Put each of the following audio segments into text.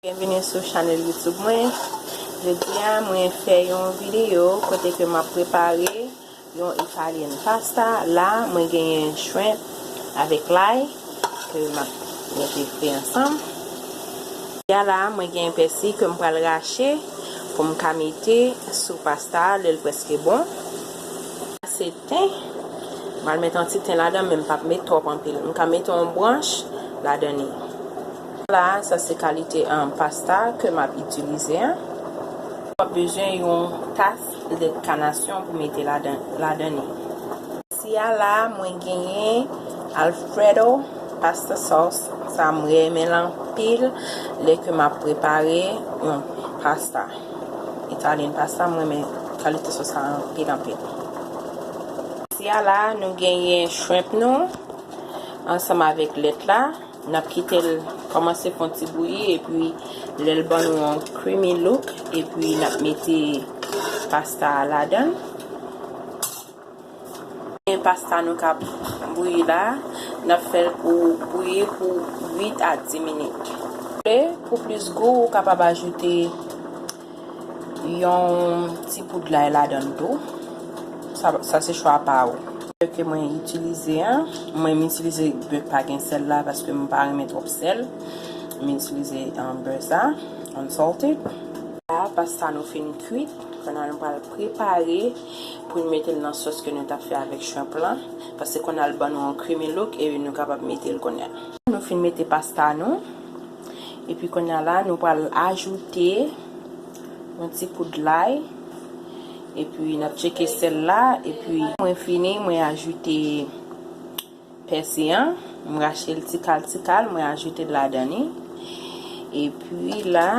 Byenvini sou chanèl youtube mwen Jodi a mwen fè yon videyo kote ke map prepare yon Italian pasta la mwen genyen shrimp avèk lay ke map mete fri ansanm Jodi a la mwen genyen pèsi ke m pral rache pou m ka mete sou pasta a lèl preske bon. Ten, m al mete yon ti ten ladan men m pap met twòp anpil, m ka mete yon branch ladan li. La a sa se kalite pasta ke map itilize a. Wap bezwen yon tas lèt kanasyon pou mete ladan li. Ici a la a mwen genyen alfredo pasta sauce sa a m renmen l anpil lè ke map prepare yon pasta. Italian pasta m renmen kalite sos sa anpil anpil. Kote a la nou genyen shrimp nou ansanm avèk lèt la nap kitel kòmanse fon ti bouyi epi lèl ban nou yon creamy look epi nap mete pasta a ladann. Gen pasta nou kap bouyi la, nap fèl pou bouyi pou 8 a 10 minit. Pou plis gou ou kapab ajoute yon ti poud lay ladann tou, sa se chwa pa ou. Bè ke mwen itilize a, mwen m itilize bè k pa gen sèl la paske m pa renmen twòp sèl, m itilize bè sa, unsalted. La pasta nou fin kwit, kounya nou pral prepare. Pou nou metel nan sos ke nou tap fè avèk shrimp lan. Pase konnya l ban nou yon creamy look e nou kapab metel konnya. Nou fin mete pasta nou. Epi konnya la nou pral ajoute yon ti poud lay. Epi nap tcheke sèl la. Epi mwen fini mwen ajoute. Pèsi an, m rache l ti kal ti kal, mwen ajoute l ladan li. Epi la,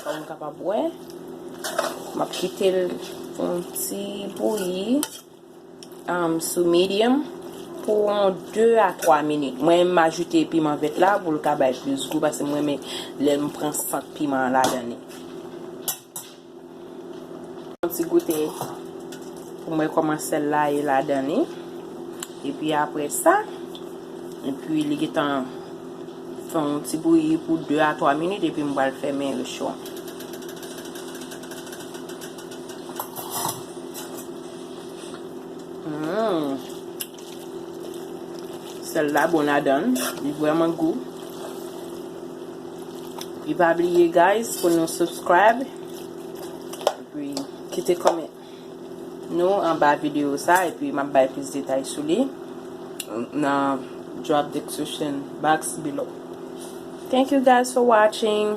kòm ou kapab wè, m ap kite l pou yon ti bouyi sou medium pou yon 2 a 3 minit. Mwen m ajoute piman vèt la pou l ka bay plis gou paske m renmen lè m pran sant piman an ladan li. Yon ti goute pou mwen koman sèl la ye ladan li. E pi apre sa, e pi li gen tan fè yon ti bouyi pou 2 a 3 minit e pi mwen pral fèmen yo cho. Humm. Sèl la bon ladanl, li vrèman gou. E pa bliye guys pou nou subscribe epi kite comment nou anba video sa epi map bay plis detay sou li nan drop description box below. Thank you guys for watching.